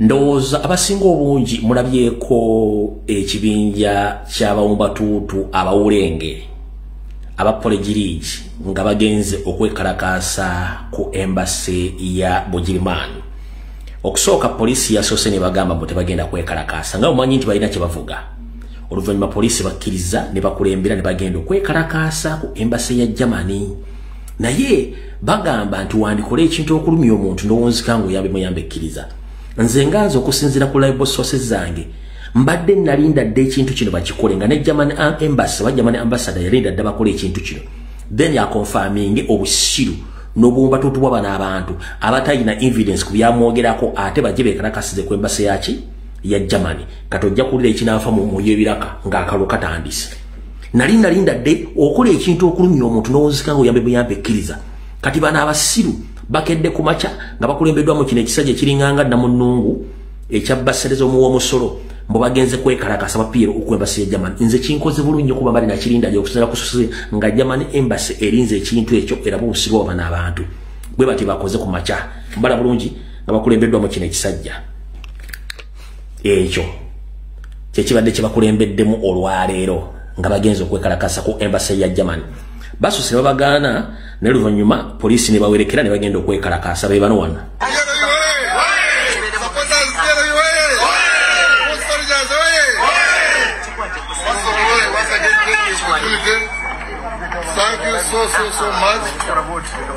ndowooza abasinga obungi mulabyeko ekibinja ky'abawumbatuutu abawulenge aba polegiriigi nga bagenze okwekalakaasa ku embasi ya bugirimaani okusooka poliisi yasoose ne bagamba mbu tebagenda kwekalakaasa nga omanyi nti balina kye bavuga oluvannyuma poliisi bakkiriza ne bakulembera ne bagenda okwekalakaasa ku embasi ya germany naye bagamba nti wandikola ekintu okulumya omuntu nowonzika nga oyambe muyambe ekkiriza nze nga nze okusinzira ku libo sources zange mbadde nalinda dde ekintu kino bakikole nga ne german embassy oba german ambassador yalinda dda bakola ekintu kino then yakonfaminge obusiru nobumba totubwa bana abantu abatalina evidence ku byamwogerako ate bajje bekalakasize ku embasi yaki ya germany kati ojja kuwulira ekinanfa mu mwoyo ebiraka ng'akalo katandise nali nalinda dde okola ekintu okulumya omuntu nowozika nga oyambe buyambe ekkiriza kati bana abasiru bakedde ku makya nga bakulembeddwamu kino ekisajja ekiringanga dda mu nnungu ekya basereza omuwa omusolo mbu bagenze kwekalakasa bapiira okuembasi ya german nze kinkoze bulu nnyo kuba mbali nakirinda gy okusera kususe nga german embasi erinze ekintu ekyo era bubusirwa obana abantu bwe bati bakoze ku makya mbala bulungi nga bakulembeddwamu kino ekisajja ekyo kyekibadde kyebakulembeddemu olwaleero nga bagenza okwekalakasa ku embasa ya german basuse nebabagaana naye luvanyuma poliisi nebawerekera nebagenda okwekalakasa bebano wana Thank you so, so, so much.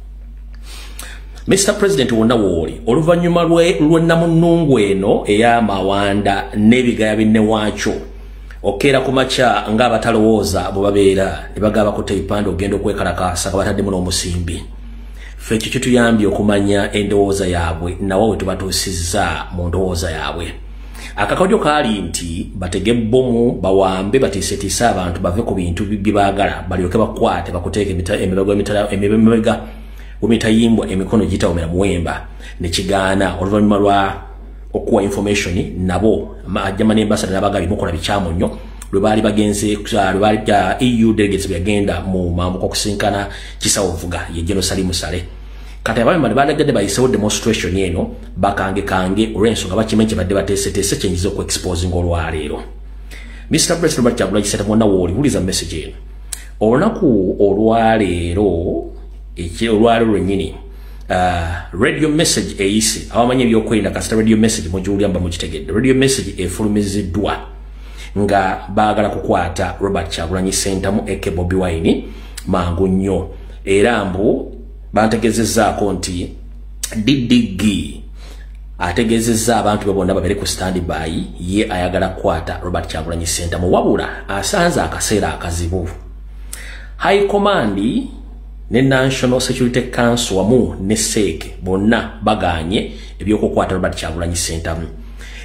Mr President wonna wooli oluvannyuma lwennamunnungu eno ey'amawanda n'ebigaya binne waakyo okeera ku makya ng'abatalowooza bwe babeera ne bagaba kutta ebipande okugenda okwekalakaasa nga bataddemu n'omusimbi ffe ekyo kituyambye okumanya endowooza yaabwe nawa we tubatuusizza mu ndowooza yaabwe akakodyo kaali nti batege bbomu bawambe batiisetiise abantu bave ku bintu bye baagala balyoke bakwate bakuteeka emibega wemitayimbwa emikono gitawomera muwemba nekigaana oluvannyuma lwa okuwa information nabo ajama nembasada nabaga bimukola bikyamu nnyo lwe baali bagenze lwe baali eu delegates beyagenda mu mamuka okusinkana kisawovuga ye jenosali musale kati abamemani bandagadde bayisewo demonstration eno bakange kange olwensonga bakimanyi kyebadde bateeseteese kyenyiza okuexposinga olwaleero mr president bakyagula kisata mwonna wooli wuliza message eno olunaku olwaleero olwaleero lwennyini Uh, radio message eyise abamanyi ebyokwerinda kasita radio message mugiwulira mba mukitegedde radio message efulumiziddwa nga baagala kukwata robert kyagulanyi sentamu eke bobi wine mangu nnyo era mbu bantegezezaako nti ddg ategezezza abantu be bonna babere ku standi bayi ye ayagala kukwata robert kyagulanyi sentamu wabula asanze akaseera akazibu high command ne national security council wamu ne seeke bonna baganye ebyokukwata robert kyagulanyi sentamu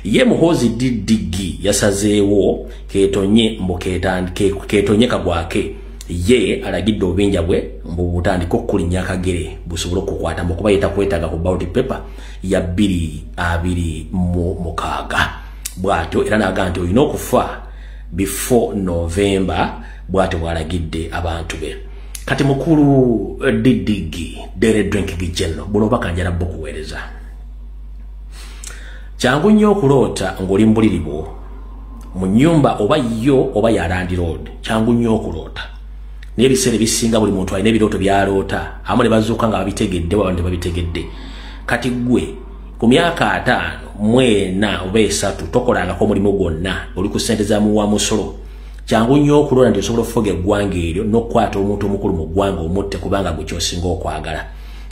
ye muhozi ddigi yasazeewo ketonye mbuketonye kagwake ye alagidde obubinja bwe mbubutandika okukulinya akagere busobole okukwata mukuba yetakwetaga ku bauti paper ya bbiri abiri mu mukaaga bwatyo era naga nti olina okufa before novemba bwatyo bwalagidde abantu be kati mukulu eh, ddigi dere drinking general buno obakanjala bukuweereza kyangu nnyo okuloota ng'oli mu buliri bwo mu nyumba oba yo oba ya landiroodi kyangu nnyo okuloota naye ebiseera ebisinga buli muntu alina ebirooto byaloota amu ne bazuuka nga babitegedde waba tebabitegedde kati ggwe ku myaka ataano mwena oba esatu tokolangako omulimu gwonna oli ku ssente za muwa musolo kyangu nnyo okuloota nti osobola okufuga eggwanga eryo n'okukwata omuntu omukulu mu ggwanga omutte kubanga gwe kyosinga okwagala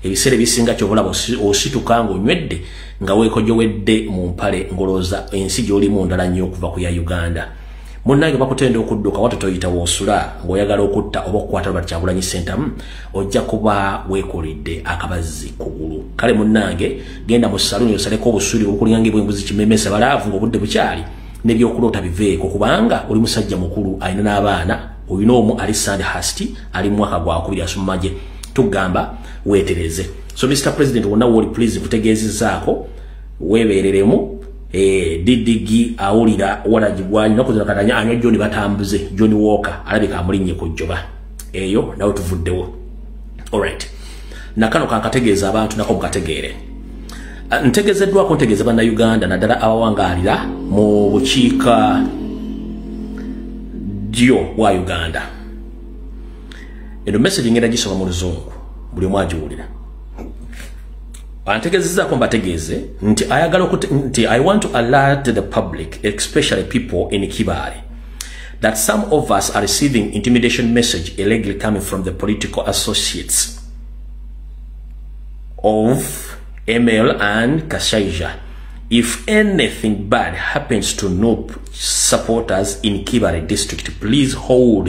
ebiseera ebisinga kyobalaba osituka nga onywedde nga weekojowedde mu mpale ngolooza ensi gyolimu ndala nnyo okuva ku ya uganda munnange bakutenda okudduka wata toyita woosula ng'oyagala okutta oba okukwata lwati kyagulanyi sentamu ojja kuba weekolidde akabazzi kugulu kale munnange genda mu saluni osaleko obusuuli obukulinga ngaebwembuzi kimemesa balaavu ng'obudde bukyali nebyokuloota biveeko kubanga oli musajja mukulu alina n'abaana olina omu ali sand hasti ali mumwaka gwakubiri asummaje tugamba wetereze so mr president wonna woli please kutegeezezaako weebeereremu eh, ddigi awulira walagibwanyi nakozera katanya anywa john batambuze john walker alabika amulinnye ku jjoba eyo nawe tuvuddewo allright nakano kankategeeza abantu nako mukategeere ah, ntegezeddwako ntegeeza bannauganda naddala abawangaalira mu bukiika ddyo bwa uganda eno message ngenda gisoma mu luzungu buli omu agiwulira antegezezaako mbategeeze nti ayagala nti i want to alert the public especially people in kibaale that some of us are receiving intimidation message illegally coming from the political associates of ml and kashaija if anything bad happens to nope supporters in kibare district please hold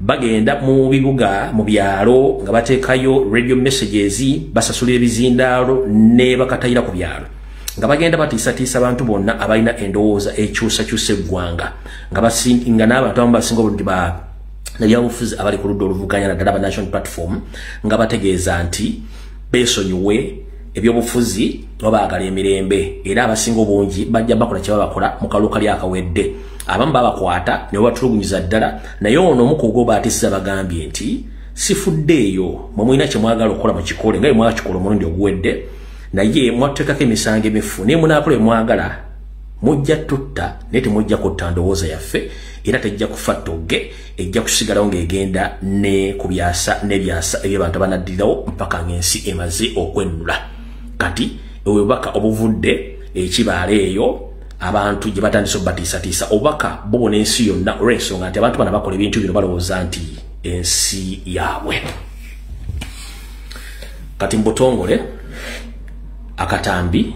bagenda mu bibuga mu byalo nga bateekayo radio messages basasulira ebizindaalo ne bakatayira ku byalo nga bagenda batiisatiisa abantu bonna abalina endowooza ekyusakyusa eggwanga nga basinga n'abantu abamu basinga obulungi ba nabyabufuzi abali ku ludda oluvuganya naddala ba national platform nga bategeeza nti beesonyiwe ebyobufuzi no bagala emirembe era abasinga obungi bajja bakola kye babakola mu kaluka lya kawedde abamu babakwata ne batulugunyiza ddala naye ono omukugo baatisa bagambye nti sifudde eyo mwe mulina kye mwagala okukola mu kikole nga mwakikola omulundi oguwedde naye mwatteekako emisango emifu naye munaakola emwagala mujja tutta naye temujja kutta ndowooza yaffe era tejja kufa togge ejja kusigalawo ng'egenda ne ku byasa n'ebyasa eby'abantu abanaddirawo mpaka ng'ensi emaze okwennula kati obubaka obuvudde ekibaala eyo abantu gye batandise obubatiisatiisa obubaka bubona ensi yonna olw'ensonga nti abantu bana bakola ebintu bino balowooza nti ensi yaabwe kati mu butongole akatambi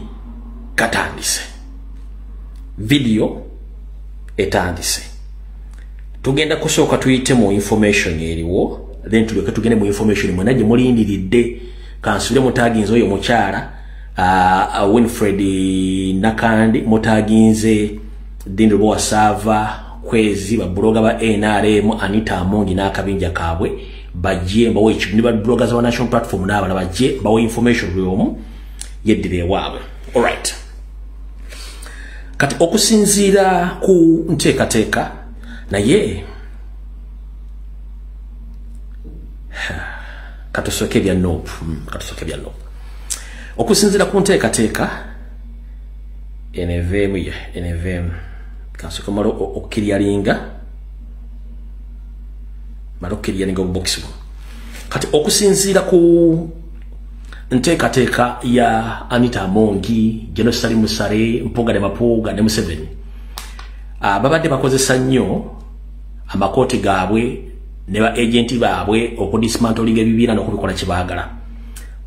katandise vidiyo etandise tugenda kusooka tuyite mu information eriwo then tulyoke tugende mu information mwena gye mulindiridde kansubire mutaginze oyo mukyala uh, uh, winfred nakandi mutaginze dindi lwowa saava kwezi babuloga ba nrm anita amungi n'akabinja kaabwe bajje mbawo ekibu ne babuloga za banational platform n'abala bajje mbawo information buli omu yeddira ewaabwe alright kati okusinziira ku nteekateeka naye katusooke ebya nop hmm, katusooke ebya nop okusinziira ku nteekateeka eneveemu ye eneveemu kansooke mala okukiryalinga mala okukiryalinga obubokisi buno kati okusinziira ku nteekateeka ya anita amongi genosali musale mpuuga ne mapuuga ne museveni ah, babadde bakozesa nnyo amakooti gaabwe ne ba agenti baabwe okudismantolinga ebibiina n'okubikola kye baagala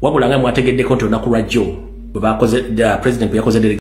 wabula nga mwategeddeko nti olunaku lwajjo bwebakoze president bwe yakoze